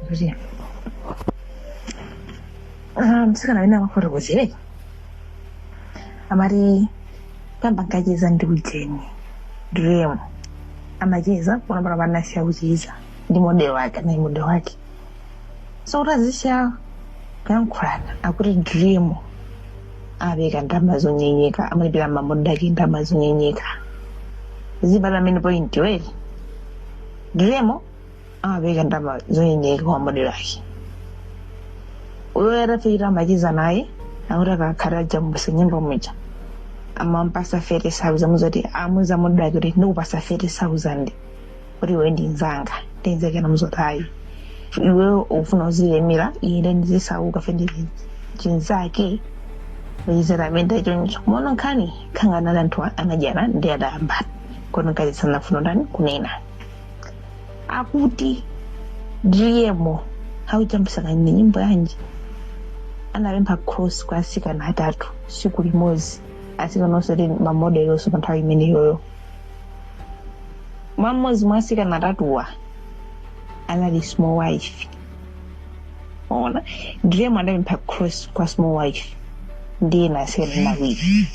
kuti ah, mtsikana amene amafotokozere amati poyamba ankacheza ndi ujeni Driemo amacheza pano pano anasiya kucheza ndi modelo wake naye modelo wake so kuti asiya kuyankhulana akuti Driemo apereka ndalama zonyenyeka amalipira mamodelo ake ndalama zonyenyeka zibale amene point weri Driemo amapereka ndalama zonyenyeka kwa modelo ake uyo atafikira amacheza naye akuti akakhala ajambuse nyimbo muja amampasa 30000 muzoti amauza modelo ake kuti ndikupasa 30000 kuti iwe ndi nzanga ndinzekena muzoti ayi iwe ufuna uzilemera ine ndizisauka fe ndi chinzake ndizira amene choncho mono nkhani kukangana anthu anadana ndi adayambana kodi mkazi sanafune ndani kunena akuti driemo akujambulitsa kanema nyimbo yanji anapempha cross kwa asikana atatu siku limodzi asikana onse ali mamodeli onse pa nthawi imeneyoyo mwa mmodzi mwa asikana atatuwa anali small wife ona Driemo anapempha cross kwa small wife ndiye atsikana awiri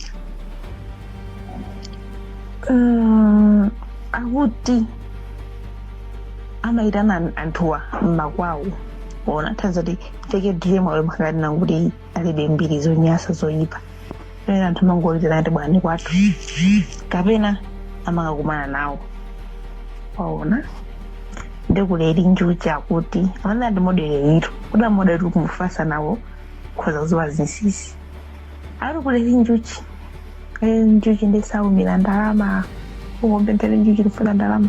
Mm, akuti anaitana anthuwa mmakwawo ona nthawi zakuti fake Driemo awe mpakati nankuti alibe mbiri zonyasa zoyipa pena anthu amangowaitana ati bwerani kwathu kapena amakakumana nawo waona ndiye Eli Njuchi akuti amene ndi modelo itu kuti amodelo tuli kumufatsa nawo khoza kuziwa zinsisi ati Eli Njuchi Eli Njuchi sawumira ndalama ungompempha Eli Njuchi ndifuna ndalama